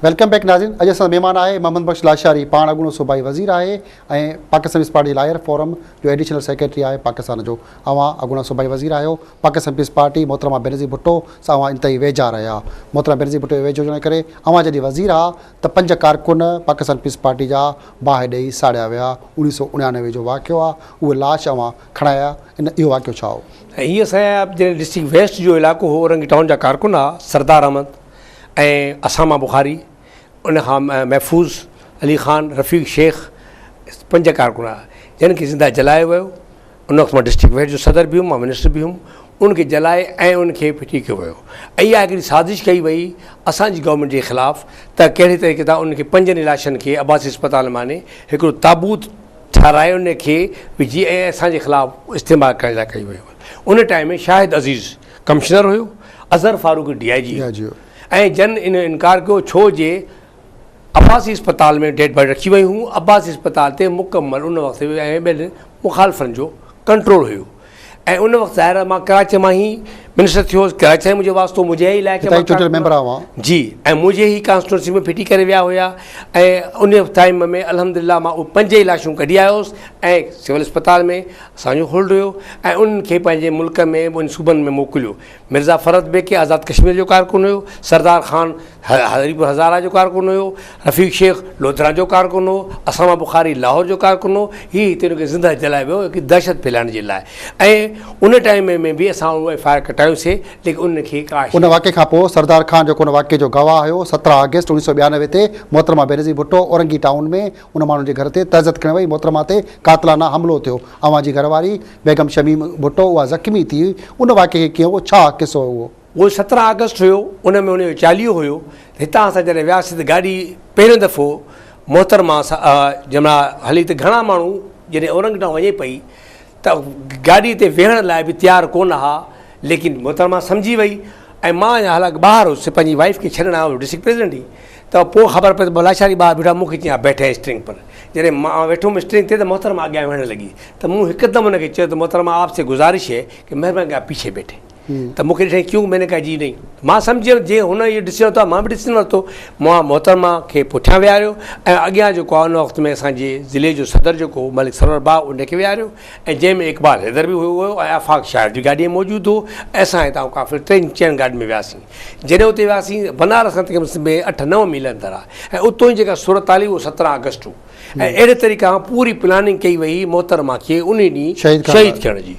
Welcome back ناظرين اڄ اسان مهمان آهي محمد بخش لاشاري پاڻ اڳوڻو صوبائي وزير آهي ۽ Pakistan peace party lawyer forum جو ايڊيشنل سيڪريٽري آهي پاڪستان جو اوهان اڳوڻا صوبائي وزير آهيو پاڪستان پيس پارٽي محترمه بينظير ڀٽو سان اوهان انتهائي ويجها رهيا محترمه بينظير ڀٽو ويجهو هجڻ ڪري اوهان جڏهن وزير آ ته پنج ڪارڪن پاڪستان پيس پارٽي جا باهه ڏيئي ساڙيا ويا انيس سو انيانوي جو واقعو آ اهي لاش اوهان کڻايا ان اهو واقعو ڇا هو؟ ۽ هي سائين آهي جنهن ڊسٽرڪٽ ويسٽ جو علائقو هو اورنگي ٽائون جا ڪارڪن ها سردار احمد ۽ اساما بخاري ان کان محفوظ علي خان رفيق شيخ پنج ڪارڪن هئا جن کي زنده جلايو ويو ان وقت مان ڊسٽرڪٽ ويسٽ جو صدر به هيم مان منسٽر به هيم ان کي جلائي ۽ ان کي ڦٽي ڪيو ويو ۽ اها هڪڙي سازش ڪئي وئي اسانجي گورنمنٽ جي خلاف ته ڪهڙي طريقي تان ان کي پنجن لاشن کي عباسي اسپتال معني هڪڙو تابوت ٺاهرايو ان کي به جي اي ايس آء جي خلاف استعمال ڪرڻ لاء ڪيو ويو ان ٽائيم ۾ شاهد عزيز ڪمشنر هيو Azhar Farooq D I G هيو ۽ جن ان انڪار ڪيو ڇو جي عباسي اسپتال ۾ ڊيڊ باڊي رکي ويون هيون عباسي اسپتال تي مڪمل ان وقت ۽ ٻين مخالفن جو ڪنٽرول هيو ۽ ان وقت ظاهر آهي مان ڪراچيء مان ئي منسٽر ٿيو هوس، ڪراچيء سان ئي منهنجو واسطو هو، منهنجي ئي علائقي مان هتان جي چونڊيل ڪراچيء مان ميمبر آهيو اوهان. جي ۽ منهنجي ئي ڪانسٽيٽوئنسي ۾ ڦٽي ڪري ويا هيا ۽ ان ٽائيم ۾ الحمدلله مان اهي پنج ئي لاشون ڪڍي آيو هوس ۽ سول اسپتال ۾ اسان جو هولڊ هيو ۽ انهن کي پنهنجي ملڪ ۾ ٻن صوبن ۾ موڪليو مرزا فرحت بيگ ڪنهن آزاد ڪشمير جو ڪارڪن هيو، سردار خان هريپور هزاره جو ڪارڪن هيو، رفيق شيخ لوڌران جو ڪارڪن هو، اسامه بخاري لاهور جو ڪارڪن هو، هي هتي هن کي زندهه جلايو ويو هڪ دهشت ڦهلائڻ جي لاء ۽ ان ٽائيم ۾ به اسان اهو ايف آء آر ڪٽايون سي ليڪن انهن کي ڪا. ان واقعي کان پوء سردار خان جيڪو ان واقعي جو گواهه هيو سترهن آگسٽ اوڻيهه سؤ ٻيانوي تي محترمه بينظير ڀٽو اورنگي ٽائون ۾ ان ماڻهن جي گهر تي تهزت کڻي وئي محترمه تي قاتلانه حملو ٿيو اوهان جي گهر واري بيگم شميم ڀٽو اها زخمي ٿي هئي، ان واقعي کي ڪيئن هو، ڇا قصو هو اهو؟ اهو سترهن آگسٽ هيو، ان ۾ ان جو چاليهو هيو، هتان اسان جڏهن وياسين ته گاڏي پهريون دفعو محترمه جنهن مهل هلي ته گهڻا ماڻهو جڏهن اورنگ ٽائون وڃي پئي ته گاڏي تي ويهڻ لاء به تيار ڪونه ها ليڪن محترمه سمجهي وئي ۽ مان هالانڪ ٻاهر هيس پنهنجي وائيف کي ڇڏڻ آيو هيس ڊسٽرڪٽ پريزيڊنٽ هئي ته پوء خبر پئي ته ڀلاشاري ٻاهر بيٺو آهي، مون کي چيائين بيٺي اسٽرنگ پر. جڏهن مان ويٺم اسٽرنگ تي ته محترمه اڳيان ويهڻ لڳي ته مون هڪدم ان کي چيو ته محترمه آپ سي گذارش هي ڪي مهرباني ڪري آپ پيڇي بيٺي ته مون کي ڏٺائين ڪيون مين نه ڪها جي نهين ته مان سمجهي ويم جي هن اهو ڊسيزن ورتو آهي مان به ڊسيزن ورتو مون محترمه کي پٺيان ويهاريو ۽ اڳيان جيڪو آهي ان وقت ۾ اسان جي ضلعي جو صدر جيڪو هو ملڪ سرور بابا ان کي ويهاريو ۽ جنهن ۾ اقبال حيدر به هيو ۽ آفاق شاهد به گاڏيء ۾ موجود هو ۽ اسان هتان ڪافر ٽين چئن گاڏين ۾ وياسين. جڏهن اتي وياسين، بنارس کان تقريباً سڀ ۾ اٺ نو ميل اندر آهي ۽ اتون جي جيڪا صورت حال هئي اهو سترهن آگسٽ هو ۽ اهڙي طريقي سان پوري پلاننگ ڪئي وئي هئي محترمه کي انهي ڏينهن شهيد ڪرڻ جي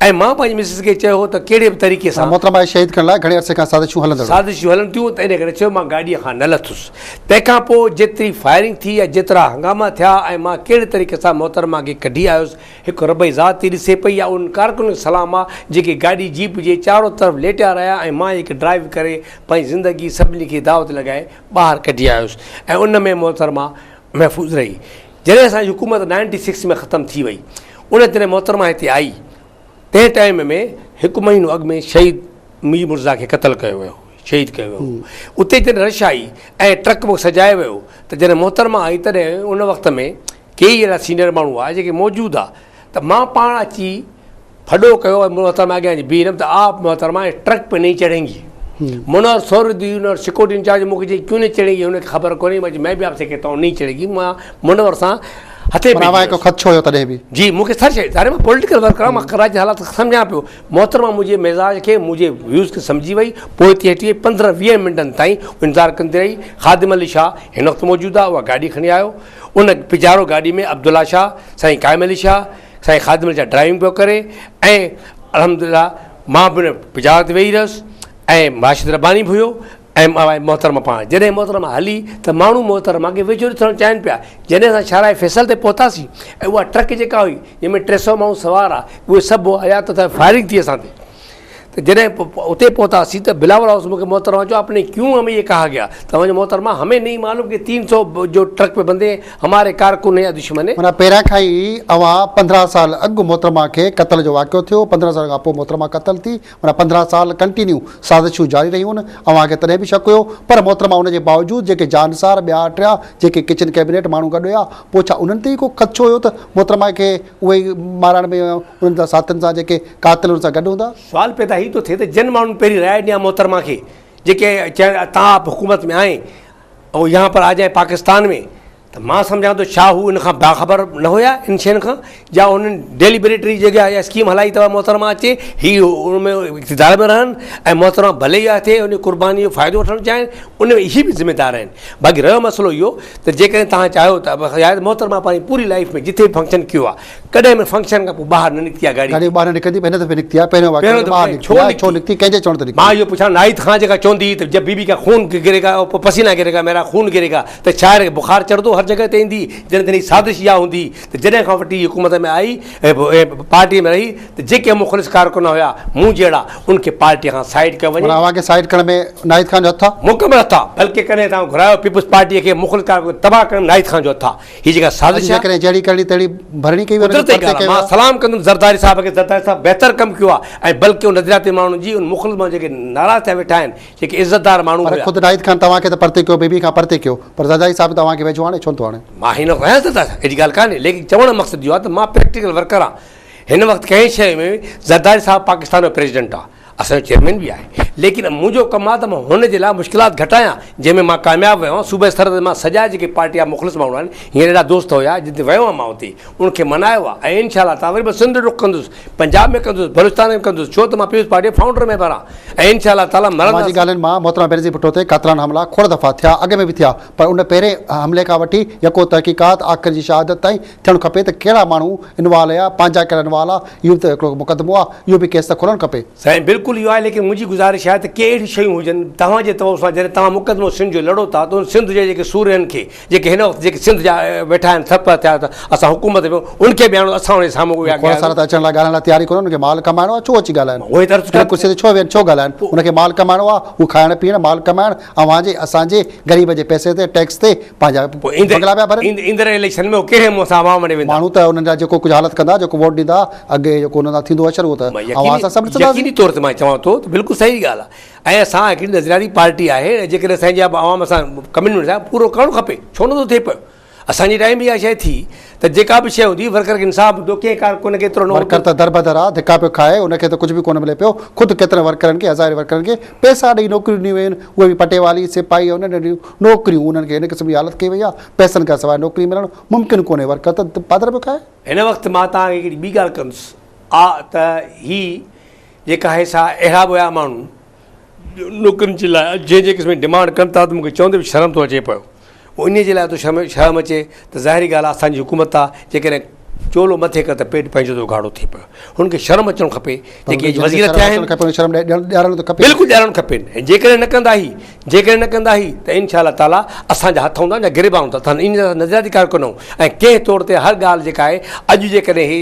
۽ مان پنهنجي مسز کي چيو هو ته ڪهڙي به طريقي سان. محترمه کي شهيد ڪرڻ لاء گهڻي عرصي کان سازشون هلندڙ هيون. سازشون هلن ٿيون ته انهي ڪري چيو مان گاڏيء کان نه لٿس. تنهن کان پوء جيتري فائرنگ ٿي يا جيترا هنگاما ٿيا ۽ مان ڪهڙي طريقي سان محترمه کي ڪڍي آيس هڪ ربعي ذات ئي ڏسي پئي يا انهن ڪارڪنن کي سلام آ جيڪي گاڏي جيپ جي چارو طرف ليٽيا رهيا ۽ مان ئي هڪ ڊرائيو ڪري پنهنجي زندگي سڀني کي دعوت لڳائي ٻاهر ڪڍي آيس ۽ ان ۾ محترمه محفوظ رهي جڏهن اسان جي حڪومت نائنٽي سڪس ۾ ختم ٿي وئي ان جڏهن محترمه هتي آئي تنهن ٽائيم ۾ هڪ مهينو اڳ ۾ شهيد مير مرزا کي قتل ڪيو ويو شهيد ڪيو ويو اتي جڏهن رش آئي ۽ ٽرڪ به سجايو ويو ته جڏهن محترمه آئي تڏهن ان وقت ۾ ڪيئي اهڙا سينئر ماڻهو هئا جيڪي موجود هئا ته مان پاڻ اچي ڦڏو ڪيو ۽ محترمه اڳيان اچي بيهي رهيم ته آء محترمه ٽرڪ پي نهي چڙهين گي منور سوري دي ان سڪيورٽي انچارج مون کي چيائين ڪيون نهي چڙهين گي هن کي خبر ڪونهي مان چيم مين بي آپ سي ڪهتا هون نهي چڙهين گي مان منور سان هٿي ميلي هيس. هڪ خدشو هيو تڏهن به. جي مون کي سر شيء ظاهر مان پوليٽيڪل ورڪر آهيان مان ڪراچي جا حالات سمجهان پيو محترمه منهنجي مزاج کي منهنجي ويوز کي سمجهي وئي پوئتي هٽي وئي پندرهن ويهه منٽن تائين انتظار ڪندي رهي خادم علي شاهه هن وقت موجود آهي اها گاڏي کڻي آيو ان پڄاڙو گاڏي ۾ عبدالله شاهه سائين قائم علي شاهه سائين خادم علي شاهه ڊرائيونگ پيو ڪري ۽ الحمدلله مان به ان پڄاڙو تي ويهي رهيس ۽ راشد رباني به هيو ايم آء محترمه پاڻ جڏهن محترمه هلي ته ماڻهو محترمه کي ويجهو ڏسڻ چاهين پيا جڏهن اسان شاهراهه فيصل تي پهتاسين ۽ اها ٽرڪ جيڪا هئي جنهن ۾ ٽي سؤ ماڻهو سوار ها اهي سڀ آيا ته ته فائرنگ ٿي اسان تي ته جڏهن اتي پهتاسين ته بلاول هائوس مون کي محترمه چيو اپني ڪيون همي يي ڪها گيا ته وڃ محترمه همي نهي معلوم ڪي تين سؤ جو ٽرڪ ۾ بندي هماري ڪارڪن يا دشمن هي. معنيٰ پهريان کان ئي اوهان پندرهن سال اڳ محترمه کي قتل جو واقعو ٿيو پندرهن سالن کان پوء محترمه قتل ٿي. ان پندرهن سال ڪنٽينيو سازشون جاري رهيون اوهان کي تڏهن به شڪ هيو پر محترمه ان جي باوجود جيڪي جانسار ٻيا ٽيا جيڪي ڪچن ڪيبنيٽ ماڻهو گڏ هيا پوء ڇا انهن تي ئي ڪو خدشو هيو ته محترمه کي اهي ئي مارڻ ۾ انهن سان ساٿين سان جيڪي قاتل انهن سان گڏ هوندا. سوال پيدا هي ٿو ٿئي ته جن ماڻهن پهرين راء ڏني آ محترمه کي جيڪي چيو ته آپ حڪومت ۾ آئين او يهان پر آ جائين پاڪستان ۾ ته مان سمجهان ٿو ڇا هو ان کان باخبر نه هيا ان شين کان جا هنن ڊيليبريٽري جيڪي اها اسڪيم هلائي اٿو محترمه اچي هي ان ۾ اقتدار ۾ رهن ۽ محترمه ڀلي اها ٿئي ان قرباني جو فائدو وٺڻ چاهين ان ۾ هي به ذميدار آهن باقي رهيو مسئلو اهو ته جيڪڏهن تها چاهيو ته محترمه پنهنجي پوري لائف ۾ جتي به فنڪشن ڪيو آهي ڪڏهن به فنڪشن کان پوء ٻاهر نه نڪتي آهي گاڏي. گاڏي ٻاهر نه نڪرندي به هن دفعي نڪتي آهي. پهريون واقعو ته ٻاهر نڪتي آهي، ڇو نڪتي، ڪنهن جي چوڻ تي نڪتي؟ مان اهو پڇان ناهيد کان جيڪا چوندي هئي ته جب بي بي ڪا خون گري گا او پسينا گري گا ميرا خون گري گا ته شاعر کي بخار چڙهندو هر جڳهه تي ايندي جڏهن تن هي سازش اها هوندي ته جڏهن کان وٺي هي حڪومت ۾ آئي ۽ پارٽيء ۾ رهي ته جيڪي مخلص ڪارڪن هيا مون جهڙا ان کي پارٽيء کان سائيڊ ڪيو وڃي. معنيٰ اوهان کي سائيڊ ڪرڻ ۾ ناهيد خان جو هٿ آهي؟ مڪمل هٿ آهي. بلڪه ڪڏهن ته آئون گهرايو پيپلز پارٽيء کي مخلص ڪارڪن کي تباهه ڪرڻ ۾ ناهيد خان جو هٿ آهي. هي جيڪا سازش آهي. جيڪڏهن جهڙي ڪرڻي تهڙي ڀرڻي ڪئي ويو قدرت جي ڳالهه آهي مان سلام ڪندم زرداري صاحب کي زرداري صاحب بهتر ڪم ڪيو آهي ۽ بلڪ ان نظرياتي ماڻهن جي ان مخلص ماڻهن جيڪي ناراض ٿيا ويٺا آهن جيڪي عزتدار ماڻهو هيا. پر خود ناهيد خان توهان کي ته پرتي ڪيو بيبي کان پرتي ڪيو پر زرداري صاحب ته اوهان کي ويجهو آڻي ڇو نٿو آڻي. مان هي نه ڪهيان زرداري صاحب اهڙي ڳالهه ڪانهي ليڪن چوڻ جو مقصد اهو آهي ته مان پريڪٽيڪل ورڪر آهيان هن وقت ڪنهن شيء ۾ زرداري صاحب پاڪستان جو پريزيڊنٽ آهي. اسان جو چيئرمين به آهي ليڪن منهنجو ڪم آهي ته مان هن جي لاء مشڪلات گهٽايان جنهن ۾ مان ڪامياب ويو آهيان صوبائي سطح تي مان سجا جيڪي پارٽي جا مخلص ماڻهو آهن هينئر اهڙا دوست هيا جتي ويو آهيان مان اتي ان کي منايو آهي ۽ انشاء الله تعالٰي وري به سنڌ رخ ڪندس پنجاب ۾ ڪندس بلوچستان ۾ ڪندس ڇو ته مان پيپلز پارٽي جي فائونڊر ميمبر آهيان ۽ انشاء الله تعالٰي مرندس سماجي ڳالهين مان محترمه بينظير ڀٽو تي قاتلانه حملا کوڙ دفعا ٿيا اڳ ۾ به ٿيا پر ان پهرين حملي کان وٺي يڪو تحقيقات آخر جي شهادت تائين ٿيڻ کپي ته ڪهڙا ماڻهو انوالو هيا، پنهنجا ڪهڙا انوالو آ، اهو به ته هڪڙو مقدمو آ، اهو به ڪيس ته کولڻ کپي. سائين بلڪل اهو آهي ليڪن منهنجي گذارش آهي ته ڪي اهڙيون شيون هجن توهان جي طور سان جڏهن توهان مقدمو سنڌ جو لڙو ٿا ته ان سنڌ جي جيڪي سورهين کي جيڪي هن وقت جيڪي سنڌ جا ويٺا آهن سر پر ٿيا اسان حڪومت ۾ ان کي به آڻو اسان انهن جي سامهون ويا کهڙا سارا ته اچڻ لاء ڳالهائڻ لاء تيار ئي ڪونه انهن کي مال ڪمائڻو آ ڇو اچي ڳالهائن اهو ئي ته عرض ڪيان ڪرسي تي ڇو ويهن ڇو ڳالهائن انهن کي مال ڪمائڻو آ اهو کائڻ پيئڻ مال ڪمائڻ اوهان جي اسان جي غريب جي پئسي تي ٽيڪس تي پنهنجا بنگلا پيا ڀرن. ايندڙ اليڪشن ۾ هو ڪهڙي منهن سان عوام وٽ ويندا. ماڻهو ته انهن جا جيڪو ڪجهه حالت ڪندا جيڪو ووٽ ڏيندا اڳي جيڪو انهن سان ٿيندو هو شروع ته اوهان اسان سڀ ڏسنداسين. يقيني طور تي مان چوان ٿو ته بلڪل صحيح ڳالهه آهي ۽ اسان هڪڙي نظرياتي پارٽي آهي ۽ جيڪڏهن سائين جي آبا عوام سان ڪمٽمينٽ سان پورو ڪرڻ کپي ڇو نه ٿو ٿئي پيو. اسان جي ٽائيم به اها شيء ٿي ته جيڪا به شيء هوندي ورڪر کي انصاف ملندو ڪنهن ڪارڪن کي ايترو نه هوندو. ورڪر ته دربدر آ ڌڪا پيو کائي ان کي ته ڪجهه به ڪونه ملي پيو خود ڪيترن ورڪرن کي هزارين ورڪرن کي پيسا ڏئي نوڪريون ڏنيون ويون آهن اهي به پٽيوالي سپاهي ۽ ننڍيون ننڍيون نوڪريون انهن کي هن قسم جي حالت ڪئي وئي آ پيسن کان سواء نوڪري ملڻ ممڪن ڪونهي ورڪر ته پادر پيو کائي. هن وقت مان توهان کي هڪڙي ٻي ڳالهه ڪندس آ ته هي جيڪا هي سا اهڙا به هيا ماڻهو نوڪرين جي لاء جي جي قسم جي ڊمانڊ ڪن ٿا ته مونکي چوندي به شرم ٿو اچي پيو انهي جي لاء ته شرم شرم اچي ته ظاهري ڳالهه آهي اسان جي حڪومت آهي جي ڪڏهن چولو مٿي ڪر ته پيٽ پنهنجو ته اگهاڙو ٿئي پيو هن کي شرم اچڻ کپي جي ڪي وزير ٿيا آهن بلڪل ڏيارڻ کپين ۽ جي ڪڏهن نه ڪندا هي جي ڪڏهن نه ڪندا هي ته انشاء الله تعالي اسان جا هٿ هوندا جا گريبان هوندا ته ان جا نظرياتي ڪار ڪنو ۽ ڪنهن طور تي هر ڳالهه جي ڪا آهي اڄ جي ڪڏهن هي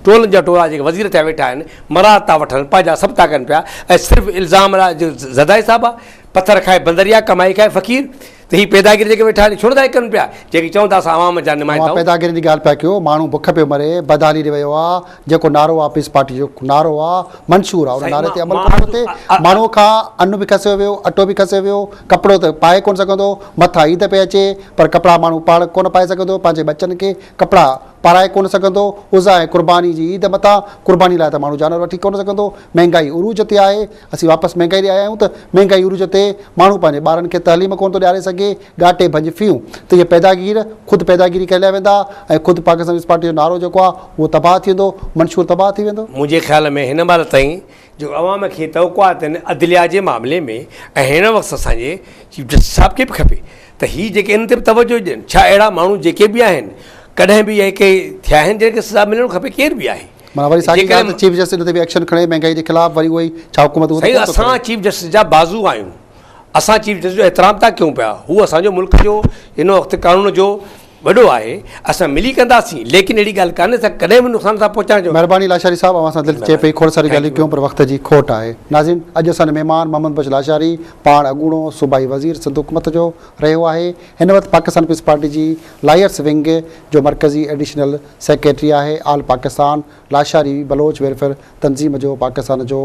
ٽولن جا ٽولا جي ڪي وزير ٿيا ويٺا آهن مراد ٿا وٺن پنهنجا سڀ ٿا ڪن پيا ۽ صرف الزام لاء جو زدائي صاحب آ پٿر کائي بندريا ڪمائي کائي فقير ته هي پيداگيري جيڪي ويٺا آهن ڇو نٿا ڪن پيا جيڪي چون ٿا اسان عوام جا نمائندا اوهان پيداگيري جي ڳالهه پيا ڪيو ماڻهو بک پيو مري بدحالي ڏي ويو آ جيڪو نعرو آ پيس پارٽي جو نعرو آ منشور آ ان نعري تي عمل ڪرڻ کپي ماڻهو کان ان به کسيو ويو اٽو به کسيو ويو ڪپڙو ته پائي ڪون سگهندو مٿان عيد پئي اچي پر ڪپڙا ماڻهو پاڻ ڪون پائي سگهندو پنهنجي ٻچن کي ڪپڙا پارائي ڪونه سگهندو، عزا ۽ قرباني جي عيد متان قرباني لاء ته ماڻهو جانور وٺي ڪونه سگهندو، مهنگائي عروج تي آهي، اسين واپس مهنگائي ڏي آيا آهيون ته مهنگائي عروج تي ماڻهو پنهنجي ٻارن کي تعليم ڪونه ٿو ڏياري سگهي، ڳاٽي ڀڃ ڦيون ته اهي پيداگير خود پيداگيري ڪهليا ويندا ۽ خود پاڪستان پيپلز پارٽي جو نعرو جيڪو آهي اهو تباهه ٿي ويندو، منشور تباهه ٿي ويندو. منهنجي خيال ۾ هن مهل تائين جو عوام کي توقعاتن عدليا جي معاملي ۾ ۽ هن وقت اسان جي چيف جسٽس صاحب کي به کپي ته هي جيڪي ان تي به توجه ڏين ڇا اهڙا ماڻهو جيڪي به آهن ڪڏهن به اهي ڪي ٿيا آهن جن کي سزا ملڻ کپي ڪير به آهي معنيٰ وري ساڳي ڳالهه ته چيف جسٽس ان تي به ايڪشن کڻي مهنگائي جي خلاف وري اهو ئي ڇا حڪومت اهو ته سائين ڪونه ٿو ڪري اسان چيف جسٽس جا بازو آهيون اسان چيف جسٽس جو احترام ٿا ڪيون پيا هو اسان جو ملڪ جو هن وقت قانون جو وڏو آهي اسان ملي ڪنداسين ليڪن اهڙي ڳالهه ڪانهي ته ڪڏهن به نقصان ٿا پهچائڻ جو. مھرباني لاشاري صاحب اوھان سان دل چئي پئي کوڙ ساريون ڳالھيون ڪيون پر وقت جي کوٽ آھي ناظرين اڄ اسان جو مھمان محمد بخش لاشاري پاڻ اڳوڻو صوبائي وزير سنڌ حڪومت جو رھيو آھي ھن وقت پاڪستان پيپلز پارٽي جي لائرس ونگ جو مرڪزي ايڊيشنل سيڪريٽري آھي آل پاڪستان لاشاري بلوچ ويلفيئر تنظيم جو پاڪستان جو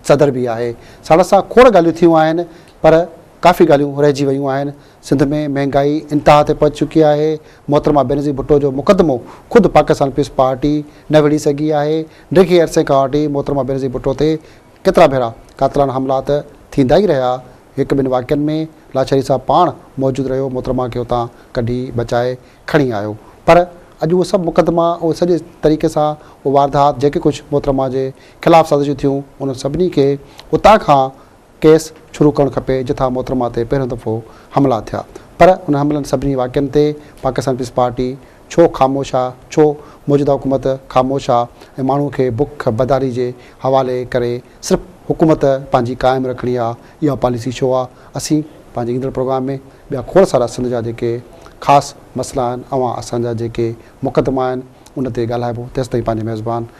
صدر به آھي ساڻس سان کوڙ ڳالھيون ٿيون آھن پر ڪافي ڳالھيون رھجي ويون آھن سنڌ ۾ مهنگائي انتها تي پهچي چڪي آهي، محترمه بينظير ڀٽو جو مقدمو خود پاڪستان پيپلز پارٽي نه وڙهي سگهي آهي، ڊگهي عرصي کان وٺي محترمه بينظير ڀٽو تي ڪيترا ڀيرا قاتلانه حملا ته ٿيندا ئي رهيا، هڪ ٻن واقعن ۾ لاڇاري صاحب پاڻ موجود رهيو محترمه کي اتان ڪڍي بچائي کڻي آيو پر اڄ اهي سڀ مقدما اهي سڄي طريقي سان اهي واردات جيڪي ڪجهه محترمه جي خلاف سازشون ٿيون انهن سڀني کي اتان کان ڪيس شروع ڪرڻ کپي جتان محترمه تي پهريون دفعو حملا ٿيا پر ان حملن سڀني واقعن تي پاڪستان پيپلز پارٽي ڇو خاموش آ ڇو موجوده حڪومت خاموش آ ۽ ماڻهو کي بک بداري جي حوالي ڪري صرف حڪومت پنهنجي قائم رکڻي آ اها پاليسي ڇو آ اسين پنهنجي ايندڙ پروگرام ۾ ٻيا کوڙ سارا سنڌ جا جيڪي خاص مسئلا آهن اوهان اسان جا جيڪي مقدما آهن ان تي ڳالهائبو تيستائين پنهنجي ميزبان